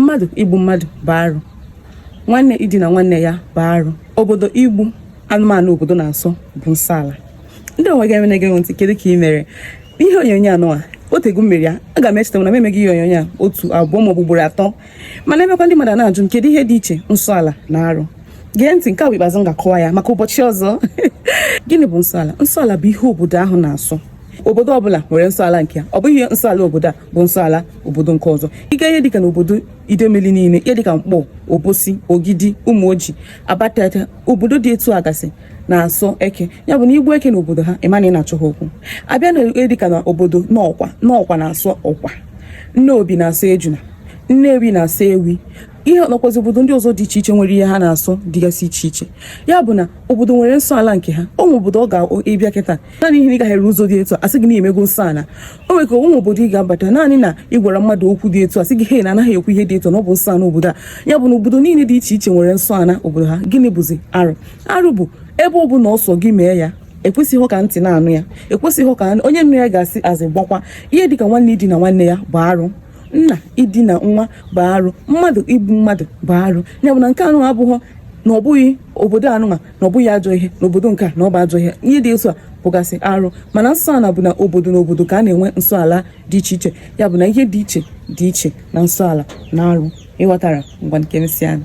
mmadụ igbu mmadụ bụ arụ nwanne idina nwanne ya bụ arụ obodo igbu anụmanụ obodo na-asọ bụ nsọ ala ndeewo gị onye na-ege ntị kedu ka ị mere ihe onyonyo anụwa o tego m mere ya aga m echeta na m emego ihe onyonyo a otu abụọ maọbụ ugboro atọ mana emekwa ndị mmadụ na-ajụ m kedu ihe dị iche nsọ ala na arụ gee ntị nke a bụ ikpeazụ m ga-akọwa ya maka ụbọchị ọzọ gịnị bụ nsọala nsọala bụ ihe obodo ahụ na-asọ obodo ọbụla nwere nsọala nke ya ọ bụghị nsọala obodo a bụ nsọ ala obodo nke ọzọ ị gaa ihe dịka n'obodo idemili niile ihe dịka nkpọ obosi ogidi ụmụoji abatete obodo dị etu a gasị na-asọ eke ya bụ na i gbuo eke n'obodo ha ị ma na ị na-achọ ha okwu a bịa na ihe dịka na obodo nnọkwa nnọkwa na-asọ ọkwa nnobi na-asọ ejuna nnewi na-asọ ewi ya nakwazị obodo ndị ọzọ dị iche iche nwere ihe ha na-asọ dịgasị iche iche ya bụ na obodo nwere nsọ ala nke ha o nwere obodo ị ga-abịa kịta naanị ihe na ị gafere ụzọ dị etu a sị gị na i mego nsọ ala o nwere kwanụ obodo ị ga-abata naanị na ị gwara mmadụ okwu dị etu a sị gị he na a naghị ekwu ihe dị etu a na ọ bụ nsọ ana obodo a ya bụ na obodo niile dị iche iche nwere nsọ ana obodo ha gịnị bụzi arụ arụ bụ ebe ọ bụla ọ sọ gị mee ya ekwesịghị ka ntị na-anụ ya ekwesịghị ka anụ- onye nụ ya ga-asị azị gbakwa ihe dịka nwanne idina nwanne ya bụ arụ nna idina nwa bụ arụ mmadụ igbu mmadụ bụ arụ ya bụ na nke anụ abụghọ na ọ bụghị obodo anụnwa na ọ bụghị ajọ ihe n'obodo nke a na ọ bụ ajọ ihe ihe dị otu a bụgasị arụ mana nsọ ala bụ na obodo na obodo ka a na-enwe nsọ ala dị iche iche ya bụ na ihe dị iche dị iche na nsọ ala na arụ ị ghọtara ngwanụ ka e mesịa nụ